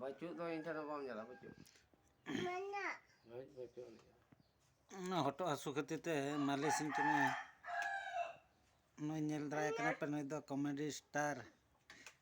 ᱵᱟᱹᱪᱩᱜ ᱫᱚ ᱤᱧ ᱴᱷᱮᱱ ᱵᱟᱢ ᱧᱮᱞᱟ ᱵᱟᱹᱪᱩᱜ ᱢᱮᱱᱟᱜ ᱵᱟᱹᱪᱩᱜ ᱚᱱᱟ ᱦᱚᱴᱚᱜ ᱦᱟᱹᱥᱩ ᱠᱷᱟᱹᱛᱤᱨ ᱛᱮ ᱢᱟᱹᱞᱤᱥ ᱤᱧ ᱠᱟᱱᱟ ᱱᱩᱭ ᱧᱮᱞ ᱫᱟᱲᱮᱭᱟᱭ ᱠᱟᱱᱟ ᱯᱮ ᱱᱩᱭ ᱫᱚ ᱠᱚᱢᱮᱰᱤ ᱥᱴᱟᱨ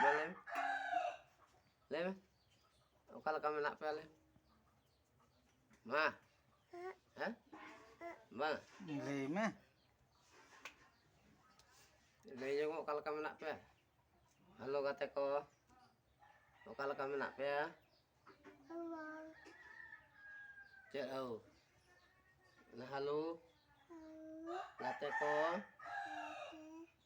ᱢᱟ ᱞᱟᱹᱭ ᱢᱮ ᱞᱟᱹᱭ ᱢᱮ ᱚᱠᱟ ᱞᱮᱠᱟ ᱢᱮᱱᱟᱜ ᱯᱮᱭᱟ ᱞᱟᱹᱭ ᱢᱟ ᱦᱮᱸ ᱵᱟᱝ ᱞᱟᱹᱭ ᱢᱮ ᱞᱟᱹᱭ ᱧᱚᱜᱚᱜ ᱚᱠᱟ ᱞᱮᱠᱟ ᱢᱮᱱᱟᱜ ᱯᱮᱭᱟ ᱦᱮᱞᱳ ᱜᱟᱛᱮ ᱠᱚ ᱚᱠᱟ ᱞᱮᱠᱟ ᱢᱮᱱᱟᱜ ᱯᱮᱭᱟ ᱪᱮᱫ ᱦᱳ ᱦᱮᱞᱳ ᱜᱟᱛᱮ ᱠᱚ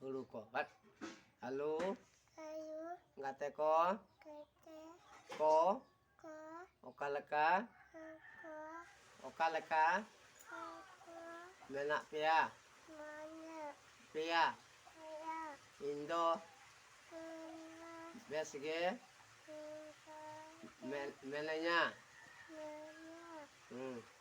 ᱦᱩᱲᱩ ᱠᱚ ᱵᱟᱴ ᱟᱞᱩ ᱜᱟᱛᱮ ᱠᱚ ᱠᱚ ᱚᱠᱟ ᱞᱮᱠᱟ ᱚᱠᱟ ᱞᱮᱠᱟ ᱢᱮᱱᱟᱜ ᱯᱮᱭᱟ ᱯᱮᱭᱟ ᱤᱧ ᱫᱚ ᱵᱮᱥ ᱜᱮ ᱢᱮᱱᱟᱹᱧᱟ ᱦᱮᱸ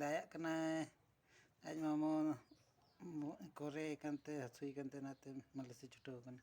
ᱫᱟᱭᱟᱜ ᱠᱟᱱᱟᱭ ᱟᱡ ᱢᱟᱢᱚ ᱵᱚᱦᱚᱜ ᱮ ᱠᱚᱨᱮ ᱠᱟᱱᱛᱮ ᱦᱟᱹᱥᱩᱭᱮ ᱠᱟᱱᱛᱮ ᱚᱱᱟᱛᱮ ᱢᱟᱹᱞᱤᱥᱮ ᱪᱷᱩᱴᱟᱹᱣ ᱠᱟᱱᱟ